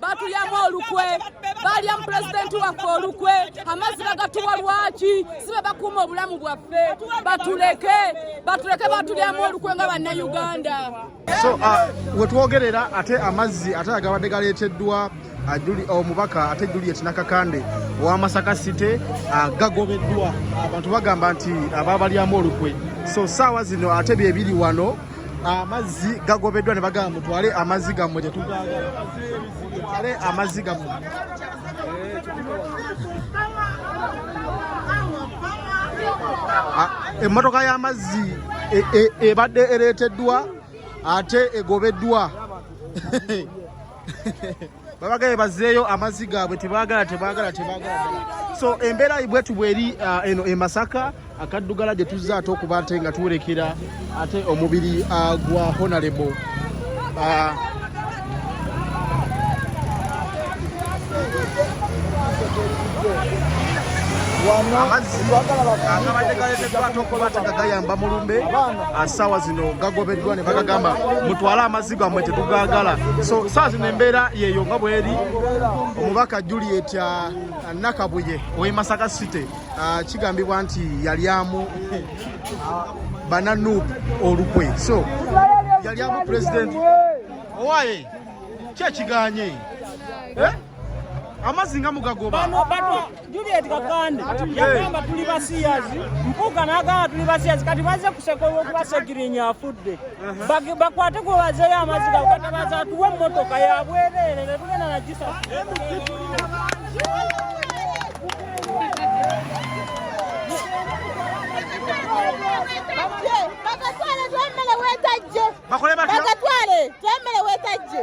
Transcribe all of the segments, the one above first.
batulyamu olukwe balyamu pulezidenti waffe olukwe amazzi bagatuwa lwaki si be bakuuma obulamu bwaffe batuleke batuleke batulyamu olukwe nga bannayuganda so uh, wetwogerera ate amazzi ate agabadde galeeteddwa uh, omubaka oh, ate juliet nakakande owamasaka site uh, gagobeddwa abantu bagamba nti ababalyamu olukwe so saawa zino ate byebiri wano amazzi gagobeddwa ne bagamba mutwale amazzi gammwe tetugagale amazzi gammwe emmotoka y'amazzi e, e, ebadde ereeteddwa ate egobeddwa babagaye bazeeyo amazzi gaabwe tebagala tebagala tebagala so embeera bwetu bweri uh, eno e masaka akaddugala gye tuzze ate okuba ate nga tuwerekera ate omubiri uh, gwa honalebo uh, amazziagabadde galeteddwatokobate nga gayamba mulumbe asawa zino gagobeddwa ne bagagamba mutwale amazzi zigamwe tetugagala so saa zino embeera yeeyo nga bweri omubaka juliet uh, nakabuye owe masaka city uh, kigambibwa nti yalyamu uh, bananup olukwe so yalyamu pulezidenti owaye kyekiganye eh? amazzi nga mugagoba Juliet Kakande yagamba tuli basiyazi, Mpuuga n'agamba tuli basiyazi, kati bazze kuseka olw'okuba Segirinya afudde. Bakwate gwe bazeeyo amaziga katabaza atuwe emmotoka ya bwereere ne tugenda na gisa bakatwale twemere wetajje bakatwale twemere wetajje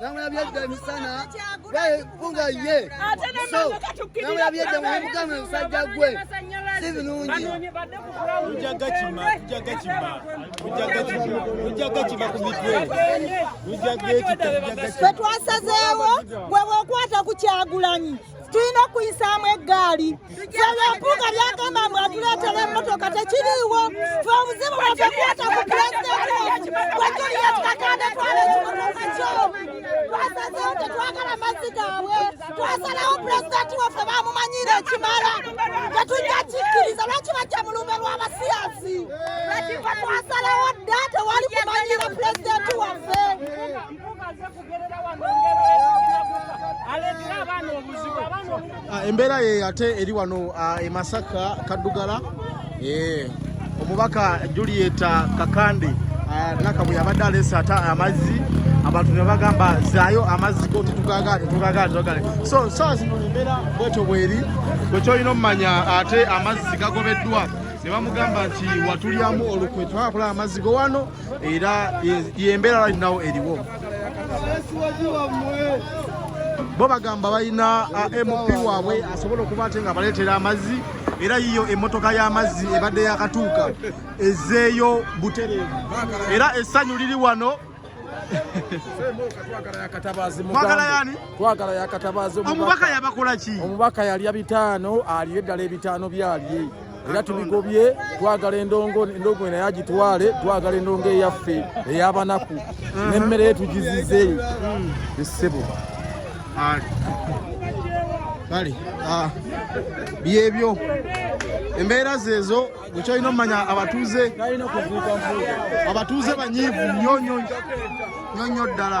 namulabye edda emisana kunga ye namulabye edda mumugame musajja gwe si birungi twetwasazeewo gwe bwokwata ku kyagulanyi tulina okuyisaamu eggaali ebyobuga byagamba mbu atuleetera emmotoka tekiriiwo fe obuzibu bwaffe kwata ku pulezidenti wajuliyet kakande twala ekimotoka kyo twasazeewo tetwagala mazzi gaabwe twasalawo pulezidenti waffe bamumanyiira ekimala tetujja kikkiriza lwaki bajja mu lumbe lw'abasiyazi twasalawo dda tewali kumanyiira pulezidenti waffe Ah, embeera ye ate eri wano ah, e Masaka Kaddugala eh, omubaka Julieta Kakande ah, nakabwe yabadde aleese ate amazzi abantu ne bagamba zaayo amazzi go tetugagaale tugagaale tugagaale so saa zino embeera bwetyo bweri bwekyolina omumanya ate amazzi gagobeddwa ne bamugamba nti watulyamu olukwe twakula amazzi go wano era yembeera right now eriwo bo bagamba balina uh, mp waabwe asobola okuba ate nga baleetera amazzi era yiyo emmotoka y'amazzi ebadde yakatuuka ezeeyo butereevu era essanyu liri wano twagala yakatabazi omubaka yabakola ki omubaka yalya bitaano aliyo eddala ebitaano byalye era tubigobye twagala endongo endongo naye agitwale twagala endongo eyaffe eyabanaku mhm. nemmere yetugizize mm. esebo kale ah, byebyo embeera zeezo gwekyolina omumanya abatuuze abatuuze banyiivu nyonyo nyonyo ddala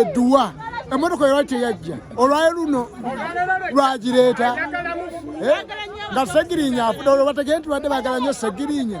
eduwa eh, eh, emotoka yewali teyajja olwayo luno lwagireeta eh, nga segirinya afuda olwo bategee nti badde bagala nyo segirinya